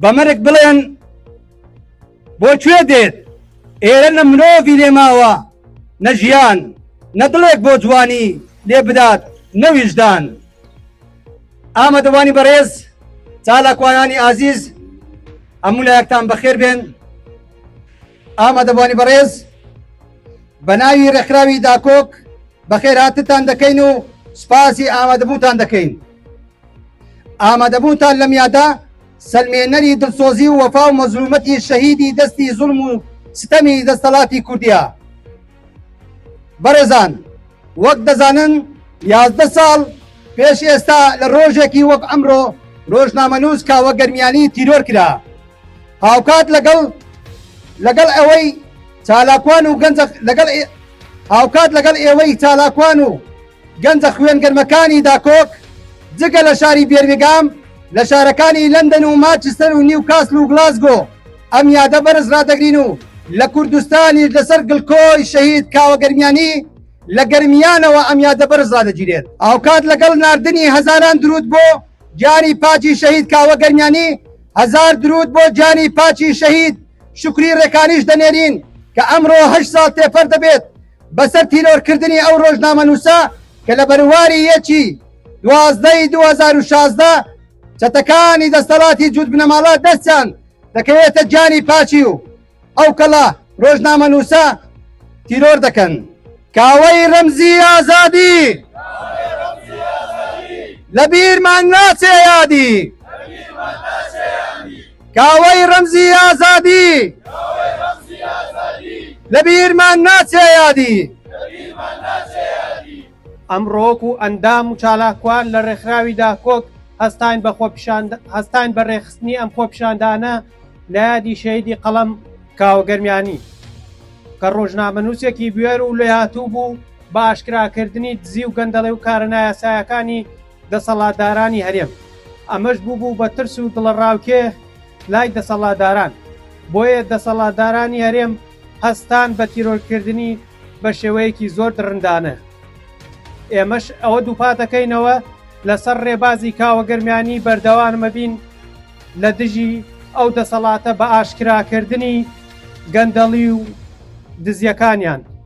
بە مەرگ بڵێن بۆ کوێ دێت ئێرە نە مرۆڤی لێماوە نە ژیان نە دڵێک بۆ جوانی لێ بدات نەویژدان ئامادەوانی بەڕێز چالاکوانانی ئازیز هەموو لایەکتان بەخێر بێن ئامادەبوانی بەڕێز بە ناوی ڕێکخراوی داکۆک بەخێر هاتتان دەکەین و سپاسی ئامادەبووتان دەکەین ئامادەبووتان لەم یادا سلمێنەری دڵسۆزی و وەفا و مەزلومەتی شەهیدی دەستی زوڵم و ستەمی دەستەڵاتی کوردیا بەڕێزان وەک دەزانن یازدە ساڵ پێش ئێستا لە ڕۆژێکی وەک ئەمڕۆ ڕۆژنامەنووس کاوە گەرمیانی تیرۆر کرا هاوکات لەگەڵ لەگەڵ ئەوەی چالاکوان و گەنج لەگەڵ هاوکات لەگەڵ ئێوەی چالاکوان و گەنجە خوێن گەرمەکانی داکۆک جگە لە شاری بێرمیگام لە شارەکانی لەندەن و ماچستەر و نیوکاسل و گلاسگۆ ئەم یادە بەرز ڕادەگرین و لە کوردستانیش لەسەر گڵکۆی شەهید کاوە گەرمیانی لە گەرمیانەوە ئەم یادە بەرز ڕادەگیرێت هاوکات لەگەڵ ناردنی هەزاران درود بۆ گیانی پاکی شەهید کاوە گەرمیانی هەزار درود بۆ گیانی پاکی شەهید شکری ڕێکانیش دەنێرین کە ئەمڕۆ هەشت ساڵ تێپەر دەبێت بەسەر تیرۆرکردنی ئەو ڕۆژنامەنووسە کە لە بەرواری یەکی دوازدەی 2016 چەتەکانی دەستەڵاتی جووت بنەماڵە دەستیان دەکەوێتە گیانی پاچی و ئەو کەڵە ڕۆژنامەنووسە تیرۆر دەکەن. کاوەی ڕەمزی ئازادی لە بیرمان ناچێ یادی کاوەی ڕەمزی ئازادی لە بیرمان ناچێ یادی. ئەمڕۆک و ئەندام و چالاکوان لە ڕێکخراوی داکۆک هەستاین بە خۆپیشان هەستاین بە ڕێکخستنی ئەم خۆپیشاندانە لە یادی شەهیدی قەڵەم کاوە گەرمیانی کە ڕۆژنامەنووسێکی بوێر و لێهاتوو بوو بە ئاشکراکردنی دزی و گەندەڵی و کارە نایاسایەکانی دەسەڵاتدارانی هەرێم، ئەمەش بووبوو بە ترس و دڵەڕاوکێ لای دەسەڵاتداران، بۆیە دەسەڵاتدارانی هەرێم هەستان بە تیرۆرکردنی بە شێوەیەکی زۆر دڕندانە. ئێمەش ئەوە دووپاتەکەینەوە لەسەر ڕێبازی کاوە گەرمیانی بەردەوامەبین لە دژی ئەو دەسەڵاتە بە ئاشکراکردنی گەندەڵی و دزیەکانیان.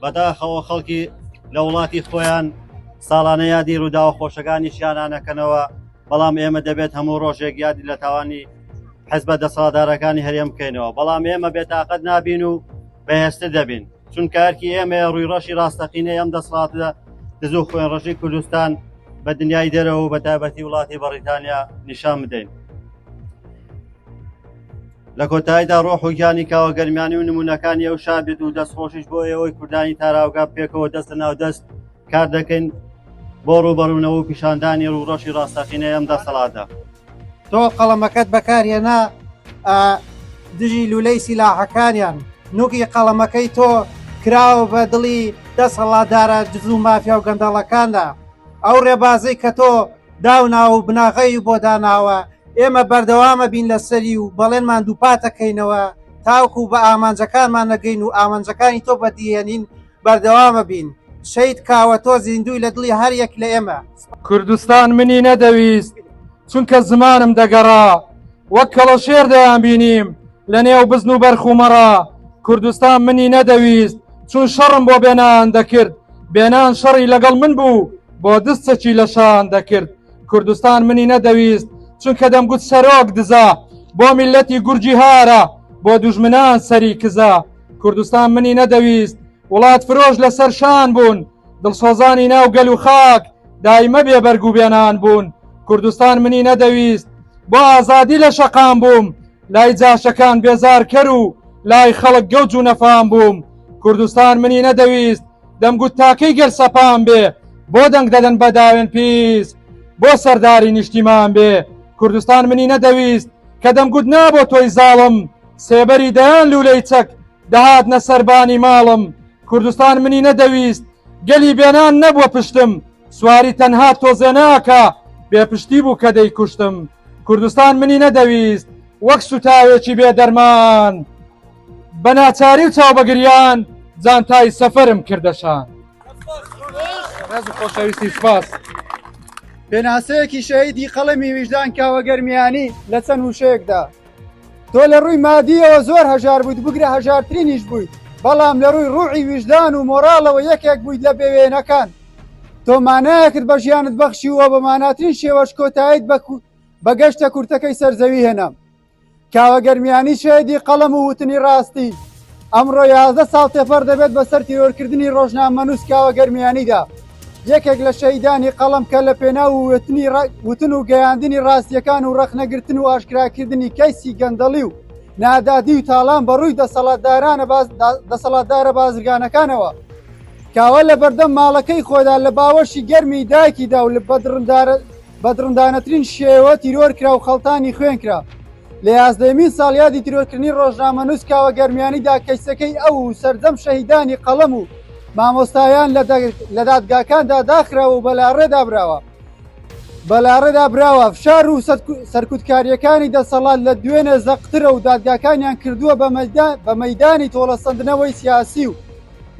بەداخەوە خەڵکی لە وڵاتی خۆیان ساڵانە یادی ڕووداوە خۆشەکانی شیانانەکەنەوە بەڵام ئێمە دەبێت هەموو ڕۆژێک یادی لە تاوانی حزبە دەسەڵاتدارەکانی هەرێم بکەینەوە بەڵام ئێمە بێتاقەت نابین و بەهێزتر دەبین چونکە ئەرکی ئێمە ڕووی ڕەشی ڕاستەقینەی ئەم دەسەڵاتە دز و خوێن ڕژی کوردستان بە دنیای دەرەوە بە تایبەتی وڵاتی بەڕیتانیا نیشان بدەین لە کۆتاییدا ڕۆح و گیانی کاوە گەرمیانی و نمونونەکانی ئەو شاد بێت و دەستخۆشیش بۆ ئێوەی کوردانی تاراوگە پێکەوە دەستە ناو دەست کار دەکەین بۆ ڕوبەڕوونەوە و پیشاندانی ڕوڕەشی ڕاستەقینەی ئەم دەسەڵاتە تۆ قەڵەمەکەت بەکارهێنا دژی لولەی سیلاحەکانیان نوکی قەڵەمەکەی تۆ کراوە بە دڵی دەسەڵاتدارە دزو مافیا و گەندەڵەکاندا ئەو ڕێبازەی کە تۆ داوناوە و بناغەی بۆ داناوە، ئێمە بەردەوامەبین لەسەری و بەڵێنمان دووپاتەکەینەوە تاوەکو بە ئامانجەکانمان نەگەین و ئامانجەکانی تۆ بەدیهێنین بەردەوامەبین، شەهید کاوە تۆ زیندووی لە دڵی هەر یەک لە ئێمە. کوردستان منی نەدەویست چونکە زمانم دەگەڕا وەک کەڵەشێر دەیانبینیم لە نێو بزن و بەرخ و مەڕا کوردستان منی نەدەویست چون شەڕم بۆ بێنان دەکرد بێنان شەڕی لەگەڵ من بوو بۆ دستەکی لە شان دەکرد کوردستان منی نەدەویست چونکە دەمگوت سەرۆک دزە بۆ میلەتی گورجی هارە بۆ دوژمنان سەری کزە کوردستان منی نەدەویست وڵات فرۆش لەسەر شان بوون دڵسۆزانی ناو گەل و خاک دایمە بێ بەرگ و بێنان بوون کوردستان منی نەدەویست بۆ ئازادی لە شەقام بووم لای جاشەکان بێزارکەر و لای خەڵک گەوج و نەفام بووم کوردستان منی نەدەویست دەمگوت تاکەی گەل سەپام بێ بۆ دەنگ دەدەن بە داوێن پیس بۆ سەرداری نیشتیمان بێ کوردستان منی نەدەویست کە دەمگوت نا بۆ تۆی زاڵم سێبەری دەیان لوولەی چەک دەهات نە سەربانی ماڵم کوردستان منی نەدەویست گەلی بێنان نەبووە پشتم سواری تەنها تۆزێناکە بێپشتی بوو کە دەیکوشتم کوردستان منی نەدەویست وەک سوتاوێکی بێ دەرمان بە ناچاری و چاو بەگریان جانتای سەفەرم کردەشان خۆشەویستی سپاس پێناسەیەکی شەهیدی قەڵەمی ویژدان کاوەگەرمیانی لە چەند وشەیەکدا تۆ لە ڕووی مادیەوە زۆر هەژار بوویت بگرە هەژارترینیش بوویت بەڵام لە ڕووی ڕوعی ویژدان و مۆراڵەوە یەکێک بوویت لە بێوێنەکان تۆ مانایەکت بە ژیانت بەخشی وە بە ماناترین شێوەش کۆتایت بە بە گەشتە کورتەکەی سەرزەوی هێنام کاوە گەرمیانی شێدی قەڵەم و وتنی ڕاستی ئەمڕۆ یازدە ساڵ تێپەڕ دەبێت بەسەر تیرۆرکردنی ڕۆژنامەنووس کاوە گەرمیانیدا، یەکێک لە شەهیدانی قەڵەم کە لە پێناو وتن و گەیاندنی ڕاستییەکان و ڕەخنەگرتن و ئاشکراکردنی کەیسی گەندەڵی و نادادی و تاڵان بە ڕووی دەسەڵاتدارە بازرگانەکانەوە کاوە لە بەردەم ماڵەکەی خۆدا لە باوەشی گەرمی دایکیدا و بە دڕندانەترین شێوە تیرۆر کرا و خەڵتانی خوێن کرا. لە یازدەیەمین ساڵیادی تیرۆرکردنی ڕۆژنامەنووس کاوە گەرمیانیدا کەیسەکەی ئەو و سەرجەم شەهیدانی قەڵەم و مامۆستایان لە دادگاکاندا داخراوە و بەلاڕێدا براوە. بەلاڕێدا براوە فشار و سەرکوتکاریەکانی دەسەڵات لە دوێنێ زەقترە و دادگاکانیان کردووە بە مەدانی تۆڵەسەندنەوەی سیاسی و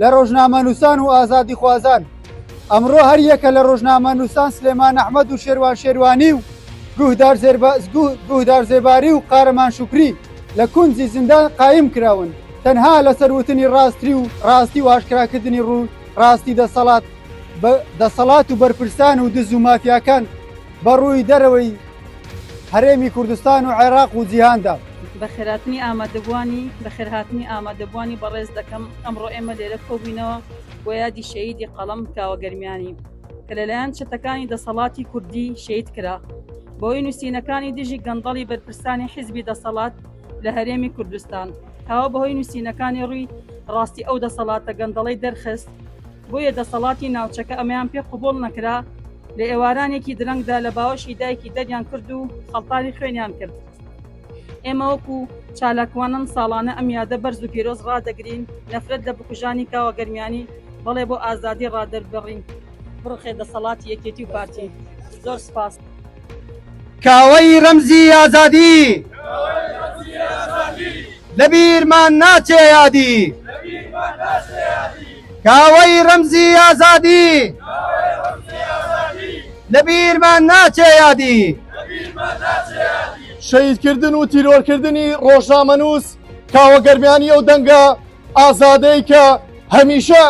لە ڕۆژنامەنووسان و ئازادیخوازان ئەمڕۆ هەریەکە لە ڕۆژنامەنووسان سلێمان ئەحمەد و شێروان شێروانی و گوهدار زێباری و قارەمان شکری لە کونجی زیندان قایم کراون تەنها لەسەر وتنی ڕاستی و ڕاستی و ئاشکراکردنی ڕوو ڕاستی دەسەڵات دەسەڵات و بەرپرسان و دز و مافیاکان بە ڕووی دەرەوەی هەرێمی کوردستان و عێراق و جیهاندا. بەخێرهاتنی ئامادەبووانی بەخێرهاتنی ئامادەبووانی بەڕێز دەکەم، ئەمڕۆ ئێمە لێرە کۆبووینەوە بۆ یادی شەهیدی قەڵەم کاوە گەرمیانی کە لەلایەن چەتەکانی دەسەڵاتی کوردی شەهید کرا بەهۆی نووسینەکانی دژی گەندەڵی بەرپرسانی حیزبی دەسەڵات لە هەرێمی کوردستان کاوە بەهۆی نووسینەکانی ڕووی ڕاستی ئەو دەسەڵاتە گەندەڵەی دەرخست بۆیە دەسەڵاتی ناوچەکە ئەمەیان پێ قبوڵ نەکرا، لە ئێوارانێکی درەنگدا لە باوەشی دایکی دەریان کرد و خەڵتانی خوێنیان کرد. ئێمە وەکو چالاکوانان ساڵانە ئەم یادە بەرز و پیرۆز ڕادەگرین، نەفرەت لە بکوژانی کاوە گەرمیانی، بەڵێ بۆ ئازادی ڕادەربڕین. بڕوخێ دەسەڵاتی یەکێتی و پارتی. زۆر سپاس. کاوەی رەمزی ئازادی لە بیرمان ناچێ یادی کاوەی رەمزی ئازادی لە بیرمان ناچێ یادی شەهیدکردن و تیرۆرکردنی ڕۆژنامەنووس کاوە گەرمیانی ئەو دەنگە ئازادەی کە هەمیشە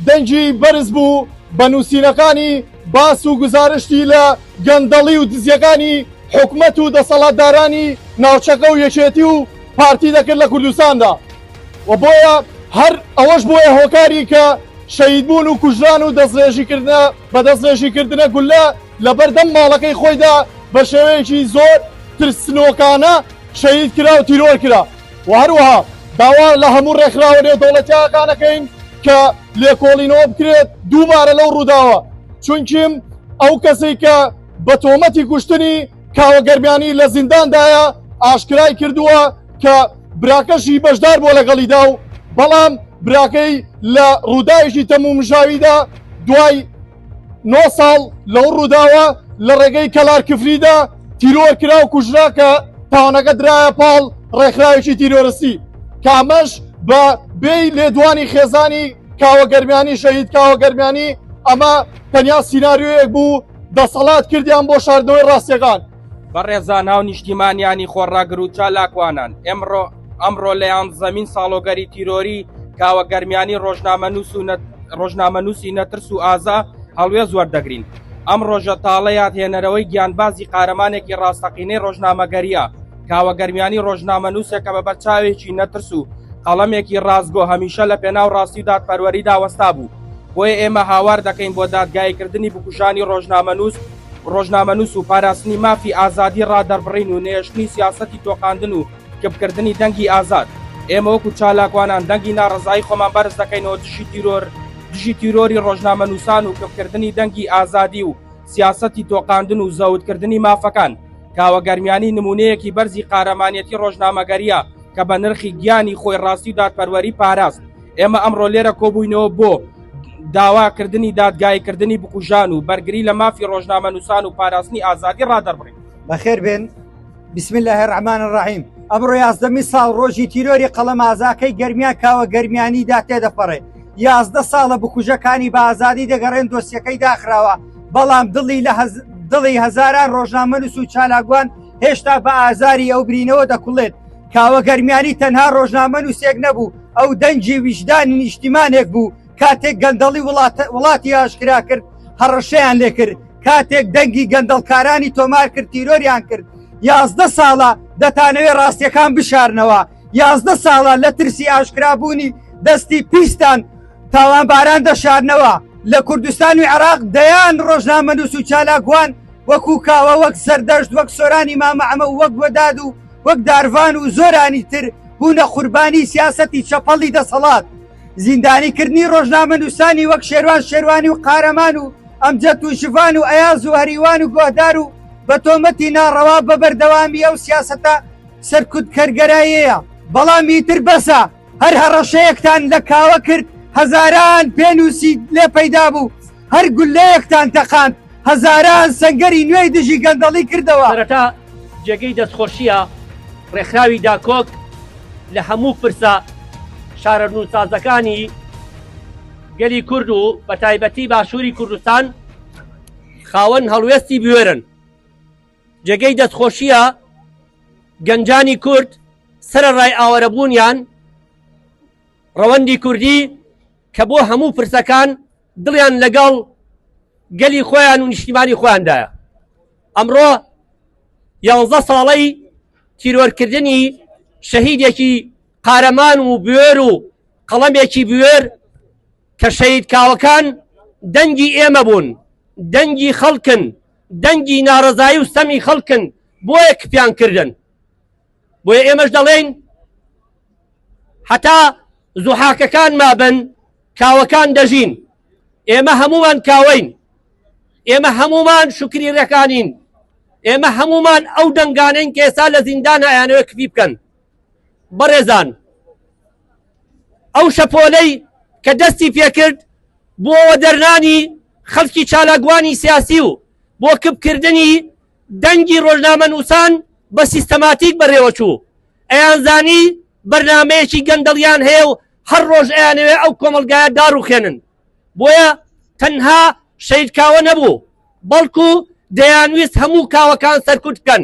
دەنگی بەرز بوو بە نووسینەکانی باس و گزارشتی لە گەندەڵی و دزیەکانی حکومەت و دەسەڵاتدارانی ناوچەکە و یەکێتی و پارتی دەکرد لە کوردستاندا و بۆیە هەر ئەوەش بۆیە هۆکاری کە شەید بوون و کوژران و دەستڕێژیکردە بە دەستڕێژیکردنە گولە لە بەردەم ماڵەکەی خۆیدا بە شێوەیەکی زۆر ترسنۆکانە شەهید کرا و تیرۆر کرا و هەروەها داوا لە هەموو ڕێکخراوە نێودەوڵەتیەکانەکەین کە لێکۆڵینەوە بکرێت دووبارە لەو ڕووداوە چونکیم ئەو کەسی کە بە تۆمەتی کوشتنی کاوە گەرمیانی لە زینداندایە ئاشکرای کردووە کە براکەشی بەشدار بۆ لەگەڵیدا و بەڵام براکەی لە ڕووداوێکی تەمومژاویدا دوای نۆ ساڵ لەو ڕووداوە لە ڕێگەی کەلار کفریدا تیرۆر کرا و کوژرا کە تاوانەکە درایە پاڵ ڕێکخراوێکی تیرۆرسی کامەش بە بێی لێدوانی خێزانی کاوە گەرمیانی شەهید کاوە گەرمیانی ئەمە تەنیا سینناریۆیەک بوو دەسەڵات کردیان بۆ شاردنەوەی ڕاستیەکان بەڕێزان هاو نیشتیمانیانی خۆڕاگر و چالاکوانان ئێمڕۆ ئەمڕۆ لە یانزەمین ساڵۆگەری تیرۆری کاوە گەرمیانی ڕۆژنامە نووس و ڕۆژنامە نووسی نەترس و ئازا هەڵوێز وەردەگرین ئەم ڕۆژە تاڵە یادهێنەرەوەی گیانبازی قارەمانێکی ڕاستەقینەی ڕۆژنامەگەریە کاوە گەرمیانی ڕۆژنامە نووسێکە بە بەرچاوێکی نەترس و قەڵەمێکی ڕاستگۆ هەمیشە لە پێناو ڕاستی و دادپەروەریدا وەستا بوو بۆیە ئێمە هاوار دەکەین بۆ دادگایکردنی بکوژانی ڕۆژنامە نووس ڕۆژنامەنووس و پاراستنی مافی ئازادی ڕادەربڕین و نەهێشتنی سیاسەتی تۆقاندن و کپکردنی دەنگی ئازاد. ئێمە وەکو چالاکوانان دەنگی ناڕەزایی خۆمان بەرز دەکەینەوە دژی تیرۆر، دژی تیرۆری ڕۆژنامەنووسان و کپکردنی دەنگی ئازادی و سیاسەتی تۆقاندن و زەوتکردنی مافەکان. کاوە گەرمیانی نموونەیەکی بەرزی قارەمانیەتی ڕۆژنامەگەرییە کە بە نرخی گیانی خۆی ڕاستی و دادپەروەری پاراست. ئێمە ئەمڕۆ لێرە کۆبووینەوە بۆ. داواکردنی دادگایکردنی بکوژان و بەرگری لە مافی ڕۆژنامەنووسان و پاراستنی ئازادی ڕادەربڕین بەخێر بێن بسم الله الرحمن الرحیم ئەمڕۆ یازدەمی ساڵ ڕۆژی تیرۆری قەڵەم ئازاکەی گەرمیان کاوە گەرمیانیدا تێدەپەڕێ یازدە ساڵە بکوژەکانی بە ئازادی دەگەڕێن دۆسیەکەی داخراوە بەڵام دڵی لە دڵی هەزاران ڕۆژنامەنووس و چالاگوان هێشتا بە ئازاری ئەو برینەوە دەکوڵێت کاوە گەرمیانی تەنها ڕۆژنامە نووسێک نەبوو ئەو دەنجی ویژدانی نیشتیمانێک بوو کاتێک گەندەڵی وڵاتی ئاشکرا کرد هەڕەشەیان لێ کرد کاتێک دەنگی گەندەڵکارانی تۆمار کرد تیرۆریان کرد یازدە ساڵە دەتانەوێ ڕاستیەکان بشارنەوە یازدە ساڵە لە ترسی ئاشکرابوونی دەستی پیستان تاوانباران دەشارنەوە لە کوردستان و عراق دەیان ڕۆژنامە نووس و چالاگوان وەکو کاوە وەک سەردەشت وەک سۆرانی مامەعمە وەک وەداد و وەک دارڤان و زۆرانی تر بوونە قوربانی سیاسەتی چەپەڵی دەسەڵات زیندانی کردنی ڕۆژنامە نووسانی وەک شێروان شێروانی و قارەمان و ئەمجەت و ژڤان و ئەیاز و هەریوان و گۆهدار و بە تۆمەتی ناڕەوا بە بەردەوامی ئەو سیاسەتە سەرکوت کەرگەرایەیە بەڵام ئیتر بەسە. هەر هەڕەشەیەکتان لە کاوە کرد هەزاران پێنووسی لێ پەیدا بوو هەر گولەیەکتان تەقاند هەزاران سنگەری نوێی دژی گەندەڵی کردەوە سەرەتا جێگەی دەستخۆشیە ڕێکخراوی داکۆک لە هەموو پرسە شارەرنووسازەکانی گەلی کورد و بە تایبەتی باشووری کوردستان خاوەن هەڵوێستی بوێرن جێگەی دەستخۆشییە گەنجانی کورد سەرەڕای ئاوەرەبوونیان ڕەوەندی کوردی کە بۆ هەموو پرسەکان دڵیان لەگەڵ گەلی خۆیان و نیشتیمانی خۆیاندایە ئەمڕۆ یانزە ساڵەی تیرۆرکردنی شەهیدێکی قارەمان و بوێر و قەڵەمێکی بوێر کە شەید کاوەکان دەنگی ئێمە بوون دەنگی خەڵکن دەنگی نارەزایی و سەمی خەڵکن بۆیە کپیان کردن بۆیە ئێمەش دەڵێین حتا زوحاکەکان مابن کاوەکان دەژین ئێمە هەمومان کاوەین ئێمە هەمومان شکری ڕێکانین ئێمە هەمومان ئەو دەنگانەین کێسا لە زیندانایانەوە کپی بکەن بەڕێزان ئەو شەپۆلەی کە دەستی پێکرد بۆ وەدەرنانی خەڵکی چالاکوانی سیاسی و بۆ کپکردنی دەنگی ڕۆژنامە نووسان بە سیستەماتیک بەڕێوەچوو ئەیانزانی بەرنمەیەکی گەندەڵیان هەیە و هەر ڕۆژ ئەیانەوێ ئەو کۆمەلگایە داڕوخێنن بۆیە تەنها شەیدکاوە نەبوو بەڵکو دەیانویست هەموو کاوەکان سەرکوت بکەن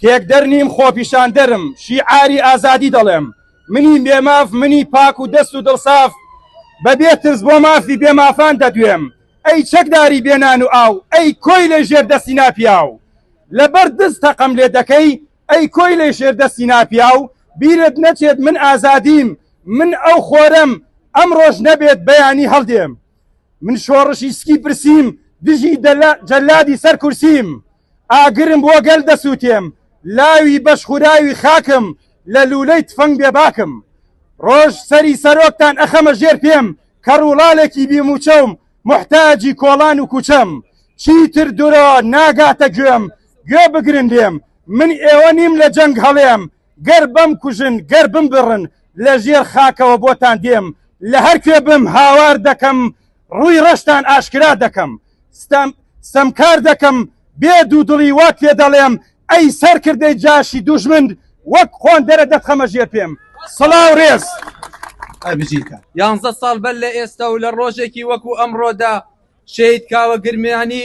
تێکدەر نیم خۆپیشاندەرم شیعاری ئازادی دەڵێم منی بێماف منی پاک و دەست و دڵساف بەبێ ترس بۆ مافی بێمافان دەدوێم ئەی چەکداری بێنان و ئاو ئەی کۆی لە ژێر دەستی ناپیاو لەبەر دز تەقەم لێ دەکەی ئەی کۆی لە ژێر دەستی ناپیاو بیرت نەچێت من ئازادیم من ئەو خۆرەم ئەم ڕۆژ نەبێت بەیانی هەڵدێم من شۆڕشی سکی پرسیم دژی جەلادی سەر کورسیم ئاگرم بۆ گەل دەسووتێم، لاوی بەش خوراوی خاکم، لە لوولەی تفەنگ بێباکم. ڕۆژ سەری سەرۆکتان ئەخەمە ژێر پێم، کەڕ و ڵالێکی بی مووچەوم، موحتاجی کۆڵان و کووچەم. چیتر درۆ ناگاتە گوێم، گوێ بگرن لێم، من ئێوە نیم لە جەنگ هەڵێم، گەر بمکوژن، گەر بمبڕن، لە ژێر خاکەوە بۆتان دێم، لە هەر کوێ بم هاوار دەکەم، ڕووی ڕەشتان ئاشکرا دەکەم. ستەم، ستەمکار دەکەم، بێ دوودڵی وات پێ دەڵێم، ئەی سەرکردەی جاشی دوژمن، وەک قۆندەرە دەتخەمە ژێر پێم. سڵاو ڕێز. ئەی بژیت. یانزە ساڵ بەر لە ئێستا و لە ڕۆژێکی وەکوو ئەمڕۆدا شەهید کاوە گرمیانی،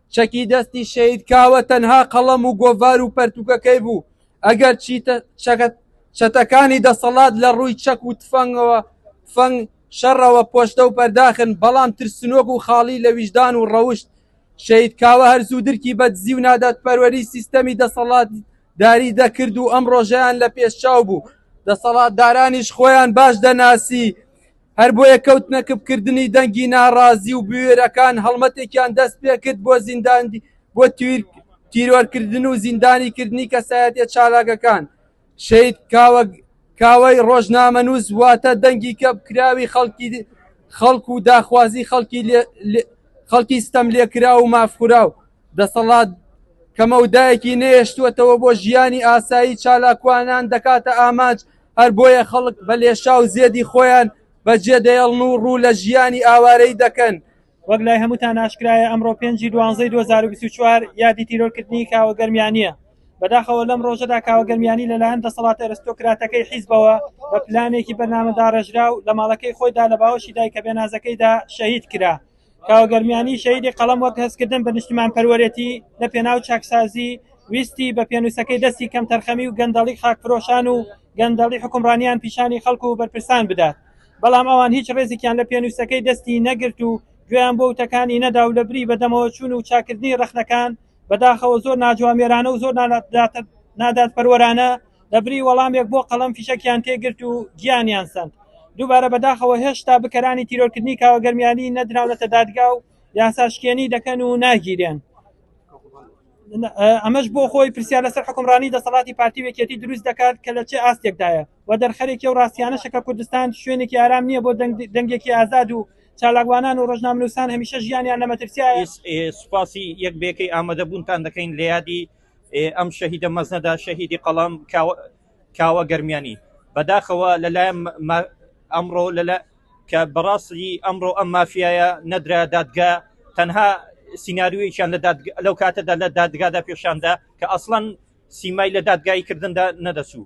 چەکی دەستی شەهید کاوە تەنها قەڵەم و گۆڤار و پەرتوکەکەی بوو ئەگەر چی چەتەکانی دەسەڵات لە ڕووی چەک و تفەنگەوە فەنگ شەڕەوە پۆشتە و پەرداخن بەڵام ترسنۆک و خاڵی لە ویژدان و ڕەوشت شەید کاوە هەرزوو درکی بە دزی و نادات پەروەری سیستەمی دەسەڵات داری دەکرد و ئەم ڕۆژەیان لە پێشچاو بوو دەسەڵاتدارانیش خۆیان باش دەناسی هەر بۆیە کەوتنە کپکردنی دەنگی ناڕازی و بوێرەکان هەڵمەتێکیان دەست پێکرد بۆ زینداندی بۆ تیرۆرکردن و زیندانیکردنی کەسایەتیە چالاکەکان شەید کاوە کاوەی ڕۆژنامەنووس واتە دەنگی کەپکراوی خەڵکی خەڵک و داخوازی خەڵکی خەڵکی ستەم لێکرا و مافخورا و دەسەڵات کەمەودایەکی نێشتوەتەوە بۆ ژیانی ئاسایی چالاکوانان دەکاتە ئامانج هەر بۆیە خەڵک بە لێشاو زێدی خۆیان بە جێ دەێڵن و ڕوو لە ژیانی ئاوارەی دەکەن. وەک لای هەمووتان ئاشکرایە ئەمڕۆ پێنج ی دوانزەی دوو هەزار و بیست و چوار یادی تیرۆر کردنی کاوە گەرمیانیە. بەداخەوە لەم ڕۆژەدا کاوە گەرمیانی لەلایەن دەسەڵاتە ئەرستۆکراتەکەی حیزبەوە بە پلانێکی بەرنامەداڕێژراو لە ماڵەکەی خۆیدا لە باوەشی دایکە بێنازەکەیدا شەهید کرا. کاوە گەرمیانی شەیدی قەڵەم وەک هەستکردن بە نیشتمان پەروەرێتی لە پێناو چاکسازی ویستی بە پێنووسەکەی دەستی کەم تەرخەمی و گەندەڵی خاکفرۆشان و گەندەڵی حکومڕانیان پیشانی خەڵک و بەرپرسان بدات بەڵام ئەوان هیچ ڕێزێکیان لە پێنووسەکەی دەستی نەگرت و گوێیان بۆ وتەکانی نەدا و لە بری بەدەمەوە چوون و چاکردنی ڕەخنەکان بەداخەوە زۆر ناجوامێرانە و زۆر نادادپەروەرانە دەبری وەڵامێک بۆ قەڵم فیشەکیان تێگرت و گیانیان سند دووبارە بەداخەوە هێشتا بکەرانی تیرۆرکردنی کاوە گەرمیانی نەدراونەتە دادگا و یاساشکێنی دەکەن و ناگیرێن ئەمەش بۆ خۆی پرسیار لەسەر حکومڕانی دەسەڵاتی پارتی وێکێتی دروست دەکات کە لە چێ ئاستێکدایە و دەرخەرێکی ئەو ڕاستیانەشە کە کوردستان شوێنێکی ئارام نییە بۆ دەنگێکی ئازاد و چالاکوانان و ڕۆژنامەنووسان هەمیشە ژیانیان لە مەترسیایە. سوپاسی یەک بەیەکەی ئامادەبوونتان دەکەین لە یادی ئەم شەهیدە مەزنەدا، شەهیدی قەڵەم کاوە گەرمیانی. بەداخەوە لەلایەن ئەمڕۆ لەلا کە بەڕاستی ئەمڕۆ ئەم مافیایە نەدرا دادگا تەنها سینناریویان لە لەو کاتەدا لە دادگادا پێشاندا کە ئەسڵەن سیمای لە دادگایی کردندا نەدەچوو.